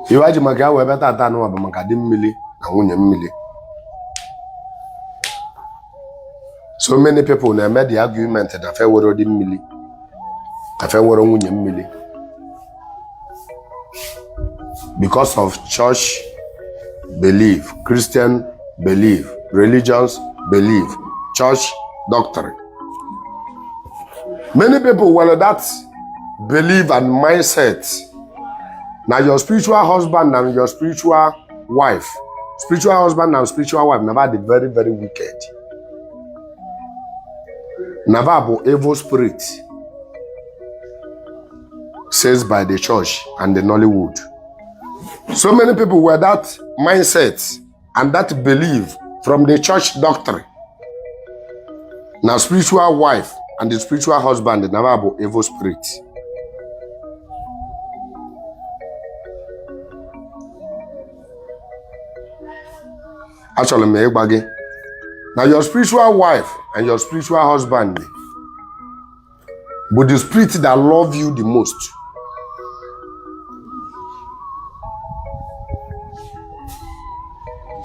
ive e ji maka ya wee bịa tata anụwa bụ maka di mmili na nwunye mmili so many people na-eme the argument na fa enwerọ di mmili na fa enwerọ nwunye mmili because of church belief Christian belief religious belief church doctrine many people were that believe and mindset na your spiritual husband and your spiritual wife spiritual husband and spiritual wife na ba dị very very wicked na ba bụ evil spirit says by the church and the Nollywood. So many people were that mindset and that belief from the church doctrine na spiritual wife and the spiritual husband na ba bụ evil spirit achọrọ m ịgwa gị na your spiritual wife and your spiritual husband but the spirit that love you the most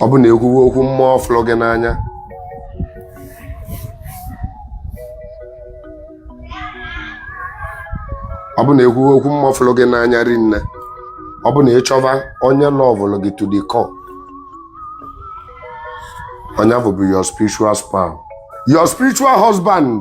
ọ bụ na e kwuwe okwu mmụọ fụlụ gị n'anya ọ bụ na e kwuwe okwu mmụọ fụlụ gị n'anya rinne ọ bụ na ị chọba onye lọvụlụ gị to the core onye ọ bụ bụ your spiritual spouse your spiritual husband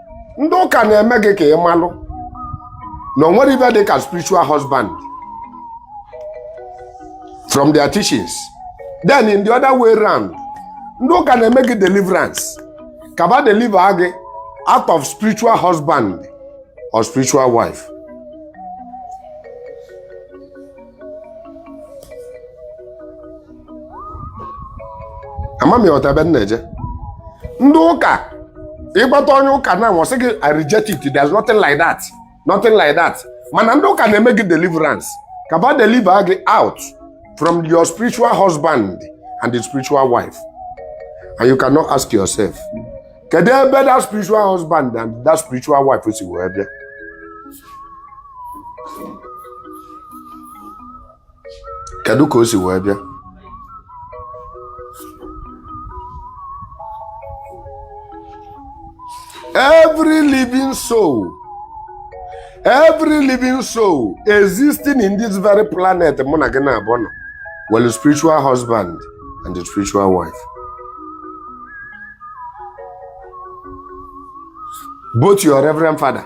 ndị ụka na-eme gị ka ị malụ na o nwerọ ive dị ka spiritual husband from their teachings then in the other way round ndị ụka na-eme gị deliverance ka ba deliver gị out of spiritual husband or spiritual wife ama m ị ghọta ebe m na-eje ndị ụka ị gbata onye ụka na ọ sị gị I reject it there's nothing like that nothing like that mana ndị ụka na-eme gị deliverance ka ba deliver gị out from your spiritual husband and the spiritual wife and you cannot ask yourself kedu ebe that spiritual husband and that spiritual wife si wee bịa kedu ka o si wee bịa every living soul every living soul existing in this very planet mụ na gị naabọ nọ nwelụ spiritual husband and a spiritual wife both your reverend father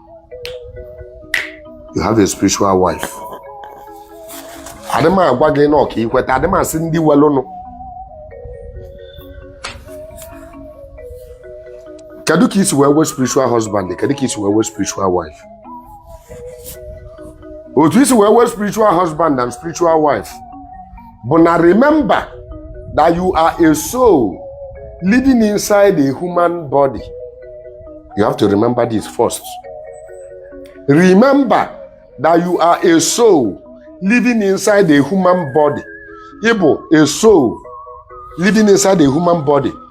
you have a spiritual wife adị m agwa gị na ọ ka i kweta adị m asị ndị welụnụ kedu ka i si wee nwee spiritual husband kedu ka i si wee nwee spiritual wife otu i si wee nwee spiritual husband and spiritual wife bụ na remember that you are a soul living inside a human body you have to remember this first remember that you are a soul living inside a human body ịbụ a soul living inside a human body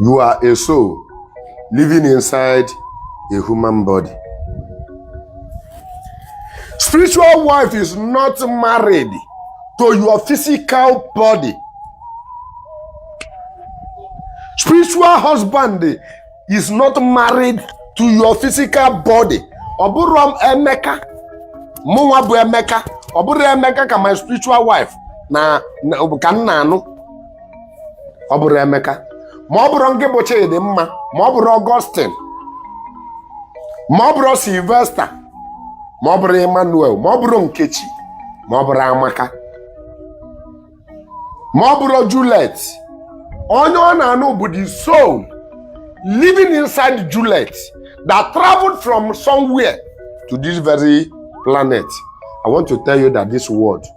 You are a soul living inside a human body. Spiritual wife is not married to your physical body. Spiritual husband is not married to your physical body. Ọ bụrọ Emeka, mụnwa bụ Emeka, ọ bụrọ Emeka ka my spiritual wife na ka m na-anụ ọ bụrụ Emeka ma ọ bụrụ ngị bụ Chidimma ma ọ bụrụ Augustine ma ọ bụrụ Sylvester ma ọ bụrụ Emmanuel ma ọ bụrụ Nkechi ma ọ bụrụ Amaka ma ọ bụrụ Juliet onye ọ na-anụ bụ the soul living inside Juliet that traveled from somewhere to this very planet. I want to tell you that this world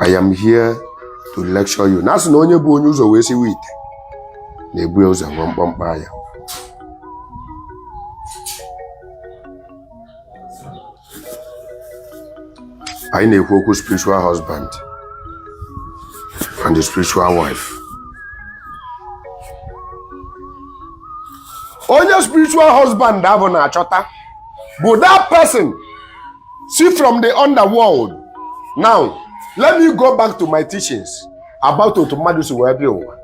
I am here to lecture you. Na a sị na onye bu onye ụzọ wee siwe ite na-ebu ya ụzọ enwe mkpọmkpọ ya. Anyị na-ekwu okwu spiritual husband and the spiritual wife. Onye spiritual husband ahụ na-achọta bụ that person si from the underworld now let me go back to my teachings about otu mmadụ si wee bịa ụwa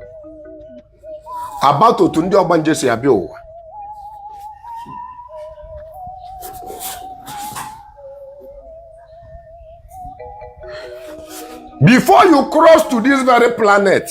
about otu ndị ọgbanje si abịa ụwa before you cross to this very planet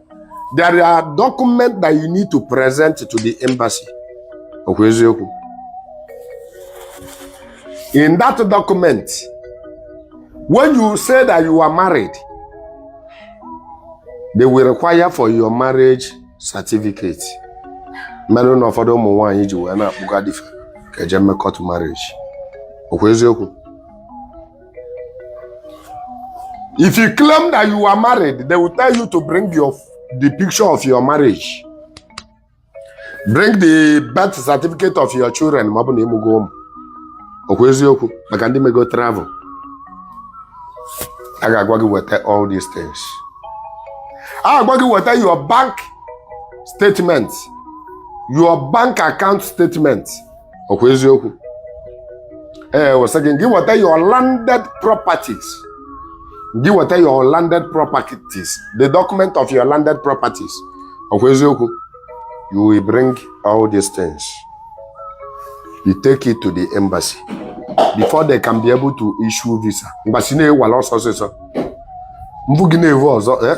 there are documents that you need to present to the embassy okwu eziokwu in that document when you say that you are married they will require for your marriage certificate mere na ụfọdụ ụmụ nwaanyị ji wee na-akpụga di fa ka e je mee court marriage okwu eziokwu If you claim that you are married, they will tell you to bring your the picture of your marriage. Bring the birth certificate of your children ma ọ bụ na ị mụgo ụmụ. Okwu eziokwu maka ndị mego travel. A ga-agwa gị weta all these things. A ga-agwa gị weta your bank statement, your bank account statement. ọkwa eziokwu ee what else again gị weta your landed properties gị weta your landed properties the document of your landed properties ọkwa eziokwu you will bring all these things you take it to the embassy before they can be able to issue visa embassy na-ewala ọsọ ọsịsọ mbụ gị na-ewu ọzọ eh?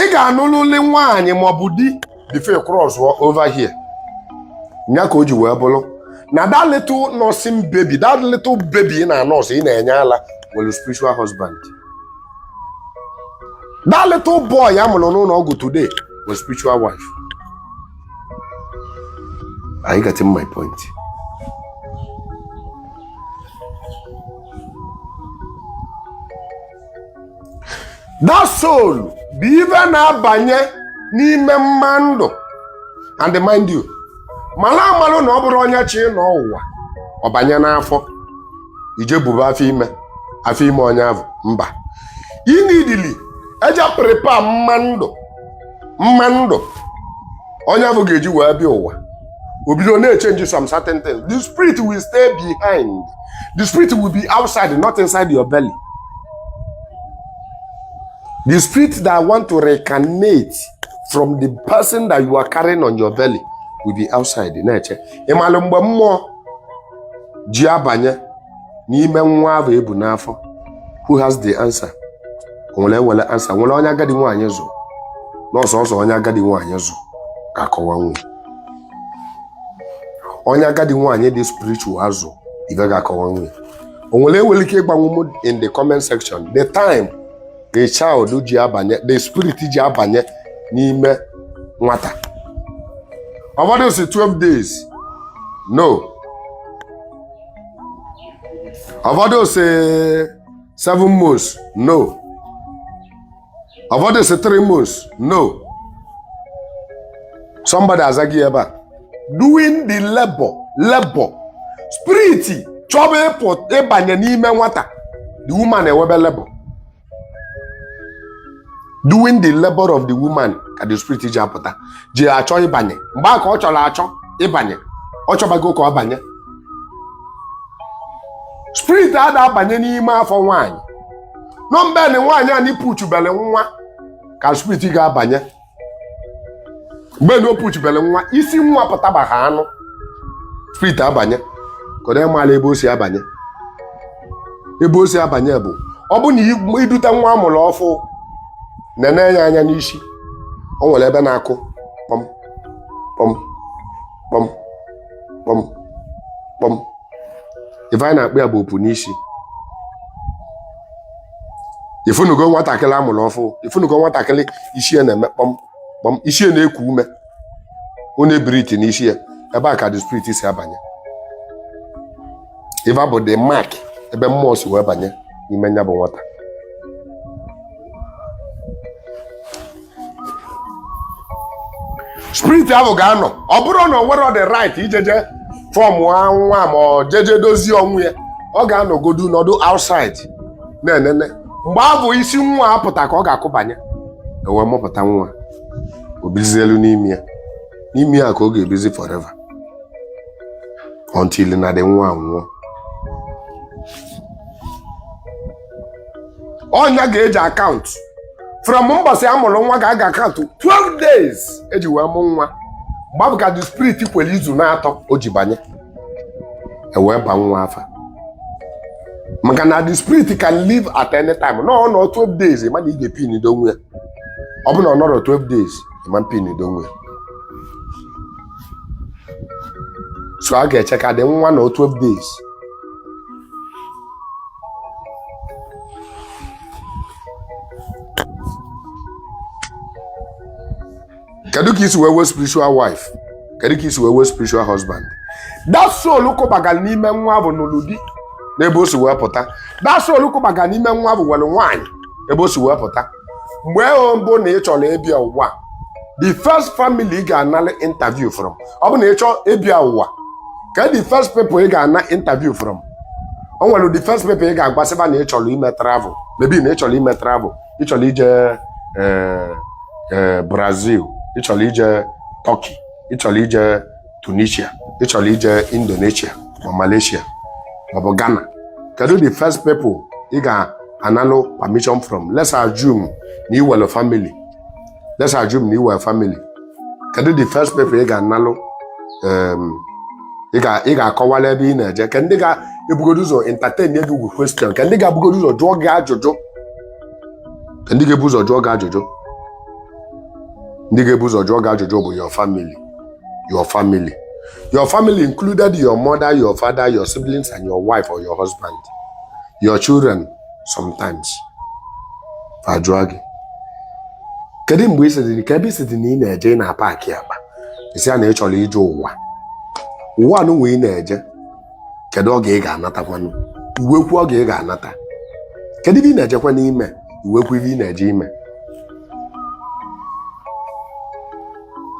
ị ga-anụlụlị nwaanyị maọbụ di before ị crossụọ over here nya ka o ji wee bụrụ na that little nursing baby that little baby ị na-anọsụ ị na-enye ala nwere spiritual husband that little boy a mụrụ n'ụlọ ọgwụ today nwere spiritual wife are you getting my point? that soul bụ ive na-abanye n'ime mmadụ and mind you malụ amalụ na ọ bụrọ onye chọ ịnọ ụwa ọ banye n'afọ ị je buba afọ ime afọ ime onye avụ mba ị needili ịje prepare mmadụ mmadụ onye avụ ga-eji wee bịa ụwa o bido na-echenji some certain things the spirit will stay behind the spirit will be outside not inside your belly the spirit that want to reincarnate from the person that you are carrying on your belly will be outside na-eche ị malụ mgbe mmụọ ji abanye n'ime nwa ahụ e bu n'afọ who has the answer onye nwere answer nwere onye agadi nwaanyị zụ na ọ sọọsọ onye agadi nwaanyị zụ ga-akọwanwu ya onye agadi nwaanyị dị spiritual azụ ibe ga-akọwanwu e o nwere nwere ike ịgwanwu m in the comment section the time the child ji abanye the spirit ji abanye n'ime nwata ụfọdụ sị 12 days no ụfọdụ sị 7 months no Ụfọdụ sị three months, no. Somebody azago ya ebe a. Doing the labor, labor. Spirit chọba ịpụ ịbanye n'ime nwata. The woman enwebe labor. During the labor of the woman ka the spirit ji apụta. Ji achọ ịbanye. Mgbe a ka ọ chọrọ achọ ịbanye. Ọ chọbago ka ọ banye. Spirit ada abanye n'ime afọ nwaanyị. na ọ mgbe na nwaanyị a na-epushubele nwa ka spirit ga-abanye mgbe na o pushubele nwa isi nwa pụtaba ha anụ spirit abanye kedu ị malụ ebe o si abanye ebe o si abanye bụ ọ bụ na i- iduta nwa amụrụ ọfụ nene ya anya n'isi o nwere ebe na-akụ kpọm kpọm kpọm kpọm kpọm ife anyị na-akpọ ya bụ opu n'isi ifunugo nwatakịrị amụrụ ọfụ ifunugo nwatakịrị isi ya na-eme kpọm kpọm isi ya na-eku ume ọ na-ebreathe n'isi ya ebe a ka the spirit si abanye ife a bụ the mark ebe mmụọ si wee banye n'ime nya bụ nwata spirit ahụ ga-anọ ọ bụrụ na o nwere the right ijeje form nwa ma ọ jeje dozie onwe ya ọ ga-anọgodu nọdụ outside na-enene mgbe ahụ isi nwa apụta ka ọ ga-akụbanye ewee mụpụta nwa o bizielu n'ime ya n'ime ya ka ọ ga-ebizi forever until na the nwa nwụọ ọ nya ka e ji acount from mbọsị a mụrụ nwa ka a ga-acount 12 days eji wee mụ nwa mgbe ahụ ka the spirit kwere izu n'atọ o ji banye ewee ba nwa afa maka na the spirit can leave at any time na ọ nọọ 12 days ị ma na ị ga-epindo onwe ya ọ bụ na ọ nọrọ 12 days ị ma epindo onwe ya so a ga-eche ka the nwa nọọ 12 days kedu ka i si wee nwee spiritual wife kedu ka i si wee nwee spiritual husband that soul kụbagara n'ime nwa ahụ nụlụ di n'ebe o si wee pụta that soul kụbagara n'ime nwa ahụ nwere nwaanyị ebe o si wee pụta mgbe ọbụna ị chọrọ ịbịa ụwa the first family ị ga-anara interview from ọ bụ na ị chọọ ịbịa ụwa kee the first people ị ga-ana interview from o nwere the first people ị ga-agwasịba na ị chọrọ ime travel maybe na ị chọrọ ime travel ị chọrọ ije eh, eh, Brazil ị chọrọ ije Turkey ị chọrọ ije Tunisia ị chọrọ ije Indonesia ma Malaysia maọbụ Ghana kedu the first people ị ga-analụ permission from let's assume na i nwere family let's assume na i nwere family kedu the first people ị ga-analụ um, ị ga-akọwala ebe ị na-eje kee ndị ga-ebugodo ụzọ entertain gị with question kee ndị ga-ebugodo ụzọ jụọ gị ajụjụ kee ndị ga-ebu ụzọ jụọ gị ajụjụ ndị ga-ebu ụzọ jụọ gị ajụjụ bụ your family your family your family included your mother your father your siblings and your wife or your husband your children sometimes ajụọ gị kedu mgbe ị sị ka ebe ị sịdị na ị na-eje ị na-apaki akpa ị sị a na ị chọrọ ije ụwa ụwa nụnwa ị na-eje kedu oge ị ga-anatakwanụ i wee kwuo oge ị ga-anata kedu ive ị na-ejekwanụ ime i wee kwuo ive ị na-eje ime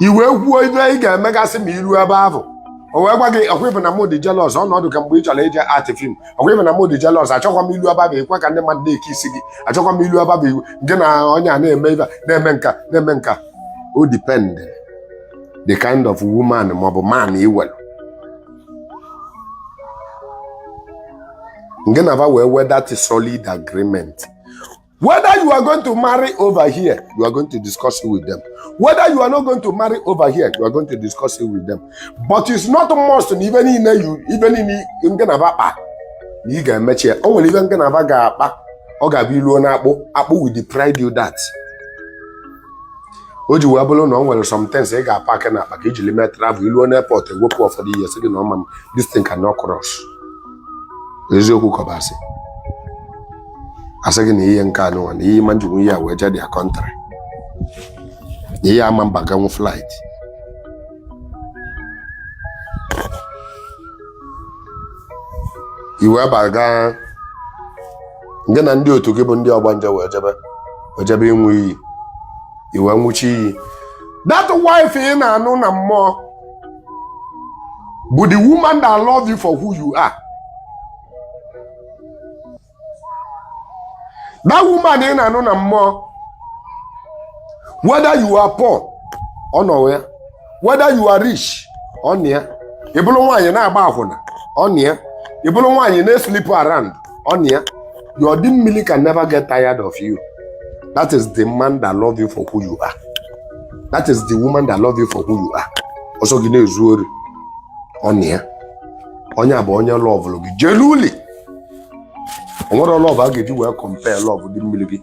i wee kwuo ive ị ga-emegasị ma i ruo ebe ahụ o wee gwa gị ọkwa ị vụ na mụ dị jealous ọnọdụ ka mgbe ị chọrọ ije actị film ọkwa ị vụ na mụ dị jealous achọkwa m i luo ebe ahụ i kwe ka ndị mmadụ na-ekisi gị achọkwa m i luo ebe ahụ ịvụ gị na onye a na-eme ive a, na-eme nka na-eme nka ọ dependị the kind of woman maọbụ man i nwelu ngị na va enwee that solid agreement whether you are going to marry over here you are going to discuss it with them whether you are not going to marry over here you are going to discuss it with them but it's not must na ive niile you ive niile ngị na va kpa na ị ga-emecha ya o nwere ive ngị na va ga-akpa ọ ga-abụ i ruo na akpụ akpụ will deprive you that o ji wee bụrụ na o nwere sometimes ị ga-apakị na akpa ka i jili mee travel i luo n'airport e wepụ ụfọdụ ihe sị gị na ọ ma this thing cannot cross eziokwu ka ọ bụ asị a sị gị na ihe nke a nụnwa na ị ma ejinwu ihe a wee jee their country na ihe a ama abaganwu flight i wee baga ngị na ndị otu gị bụ ndị ọgbanje wee jebe wee jebe ịnwụ iyi i wee nwụcha iyi that wife ị na-anụ na mmụọ bụ the woman that love you for who you are that woman ị na-anụ na mmụọ whether you are poor ọ nọ ya whether you are rich ọ nọ ya ị bụrụ nwaanyị na-agba akwụna ọ nọ ya ị bụrụ nwaanyị na-esleep around ọ nọ ya your di mmiri can never get tired of you that is the man that love you for who you are that is the woman that love you for who you are ọ sọ gị na-ezu ori ọ nọ ya onye a bụ onye lọvụrụ gị genuinely o nwerọ love a ga-eji wee compare love di mmiri gị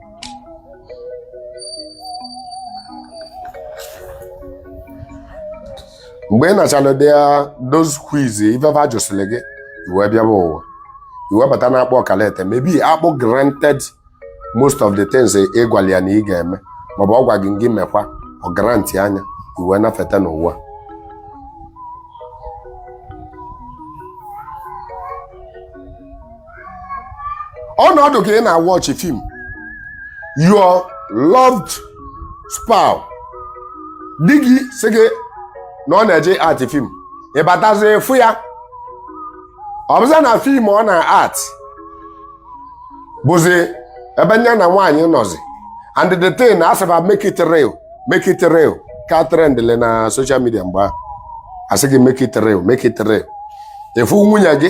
mgbe ị nachara dị ya those quiz ive va jụsịrị gị i wee bịaba ụwa i wee bata na akpụ okay let's say maybe akpụ granted most of the things ị gwara ya na ị ga-eme maọbụ ọ gwa gị gị mekwa ọ grantịa ya i wee nafeta n'ụwa ọnọdụ ka ị na-watch film your loved spouse di gị sị gị na ọ na-eje act film ị batazi fụ ya ọ bụza na film ọ na-act bụzi ebe nya na nwaanyị nọzi and the thing a sị ba make it real make it real ka trendịlị na social media mgbe ahụ asị gị make it real make it real ị fụ nwunye gị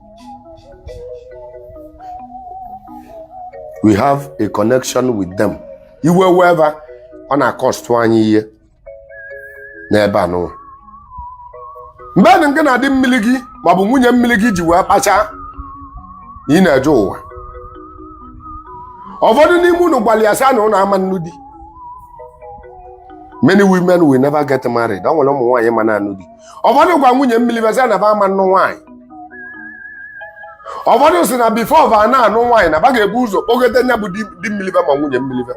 we have a connection with them iwe wee va ọ na-akọstụ anyị ihe n'ebe a n'ụwa mgbe nụ ngị na di mmili gị maọbụ nwunye mmili gị ji wee kpachaa na ị na-eje ụwa ụfọdụ n'ime unu gwali ya sị na unu ama nnụ di many women will never get married o nwele ụmụ nwaanyị ma na-anụ di ụfọdụ gwa nwunye mmili ve sị na ba ama nnụ nwaanyị ụfọdụ si na before ba na anụ nwaanyị na ba ga-ebu ụzọ kpọgote nya bụ di di mmili ve ma nwunye mmili ve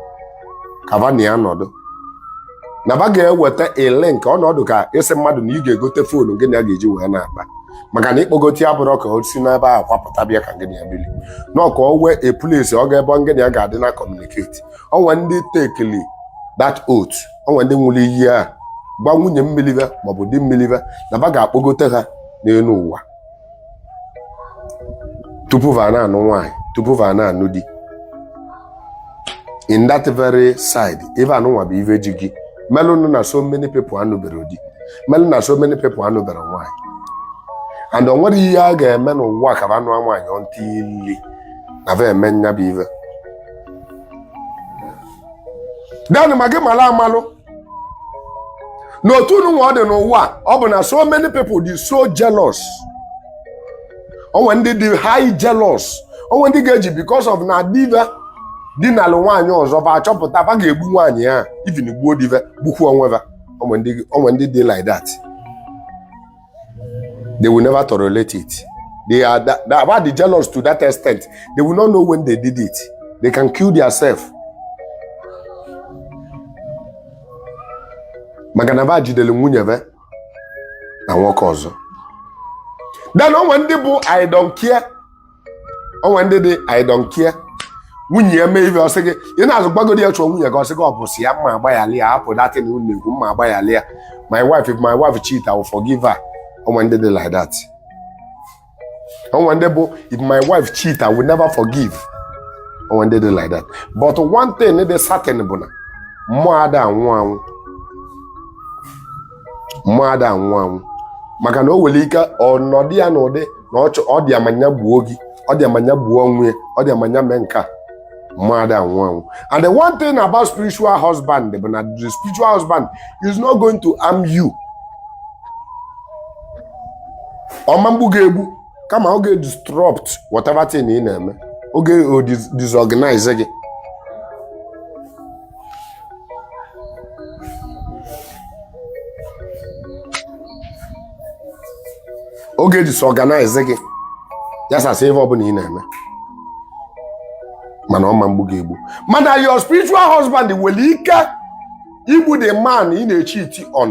ka ba na ya nọdụ na ba ga-eweta a link ọnọdụ ka ịsị mmadụ na ị ga-egote foonu gị na ya ga-eji wee na-akpa maka na ịkpọgote ya bụrụ ka o si n'ebe a kwapụta bịa ka gị na ya bili na ka o nwee a place ọ ga-ebe ngị na ya ga-adị na communicate onwe ndị tekili that oath onwe ndị nwụrụ iyi a gwa nwunye mmili ve maọbụ di mmili ve na ba ga-akpọgote ha n'elu ụwa tupu va na-anụ nwaanyị tupu va na-anụ di in that very side ife anụnwa bụ ife ji gị melụ nụ na so many people anụbere di melụ na so many people anụbere nwaanyị and o nwere ihe a ga-eme n'ụwa ka ba nụọ nwaanyị until na va eme nya bụ ife then ma gị mala amalụ na otu nụnwa ọ dị n'ụwa ọ bụ na so many people dị so jealous onwe ndị dị high jealous onwe ndị ga-eji because of na di va di na-alụ nwaanyị ọzọ ba achọpụta ba ga-egbu nwaanyị a even gbuo di va gbukwu onwe ba onwe ndị dị like that they will never tolerate it they are that, that, va dị jealous to that extent they will not know when they did it they can kill themselves maka na ba jideli nwunye ve na nwoke ọzọ then onwe ndị bụ i don't care onwe ndị dị I don't care nwunye ya mee ife ọ sị gị ị na-azụ gbagodi ya chụọ nwunye gị ọ sị gị ọ bụ sị ya m ma agbaghali ya hapụ that thing unu ekwu m ma agbaghali ya my wife if my wife cheat I will forgive her onwe ndị dị like that onwe ndị bụ if my wife cheat I will never forgive onwe ndị dị like that but one thing dị certain bụ na mmụọ ada anwụ anwụ more than one maka na o nwere ike ọ nọdụ ya n'ụdị na ọ dị ya ma nya gbuo gị ọ dị ya ma nya gbuo onwe ya ọ dị ya ma nya mee nke a more than one and the one thing about spiritual husband bụ na the spiritual husband is not going to harm you ọ ma egbu gị egbu kama ọ ga-disrupt whatever thing ị na-eme ọ ga-edisorganize gị ọ ga-edisorganize gị yasasịa ebe ọbụla ị na-eme mana ọ ma egbu gị egbu mana your spiritual husband nwere ike igbu the man ị na-echeat on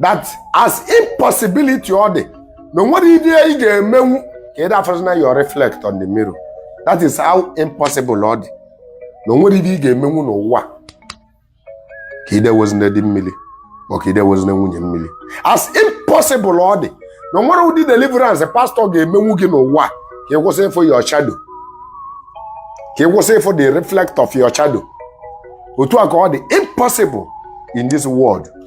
that as impossibility ọ dị na o nwere ihe ị ga-emenwu ka ị dafụrụ na your reflect on the mirror that is how impossible ọ dị na o nwere ihe ị ga-emenwu n'ụwa ka i dewezina di mmiri ma ka i dewezina nwunye mmiri as impossible ọ dị na o nwere ụdị deliverance pastọ ga-emenwu gị n'ụwa ka ị kwụsị ịfụ your shadow ka ị kwụsị ịfụ the reflect of your shadow otu a ka ọ dị impossible in this world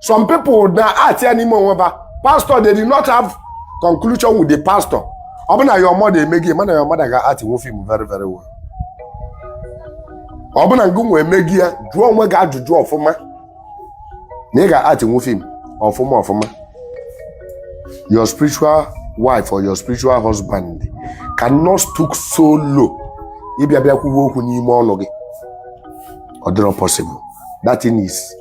some people na-act ya n'ime onwe ba pastor they did not have conclusion with the pastor ọ bụ na your mother eme gị mana your mother ga-actnwu film very very well ọ bụ na ngụ nwe eme gị ya jụọ onwe gị ajụjụ ọfụma na ị ga-actnwu film ọfụma ọfụma your spiritual wife or your spiritual husband cannot stoop so low ịbịa bịa kwuwe okwu n'ime ọnụ gị ọ dịrọ possible that thing is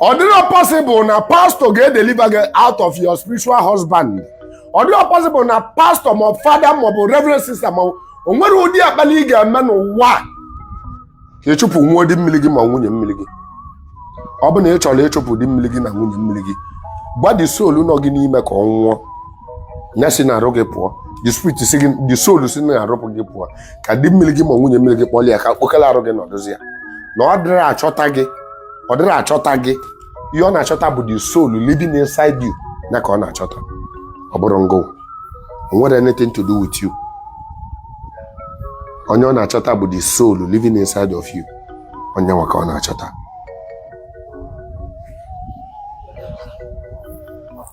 ọ dịrọ possible na pastọ ga-edeliver gị out of your spiritual husband ọ dịrọ possible na pastọ ma fada maọbụ reverend sister ma o nwere ụdị akpali ị ga-eme n'ụwa ka ị chụpụnwu di mmiri gị ma nwunye mmiri gị ọ bụ na ị chọrọ ịchụpụ di mmiri gị na nwunye mmiri gị gwa the soul nọ gị n'ime ka ọ nwụọ ya si n'arụ gị pụọ the spirit si gị the soul si n'arụ pụ gị pụọ ka di mmiri gị ma nwunye mmiri gị kpọlụ ya ka okpokolo arụ gị nọdụzi ya na ọ dịrọ achọta gị ọ dịrọ achọta gị ihe ọ na-achọta bụ the soul living inside you ya ka ọ na-achọta ọ bụrọ ngụ o nwere anything to do with you onye ọ na-achọta bụ the soul living inside of you onye nwa ka ọ na-achọta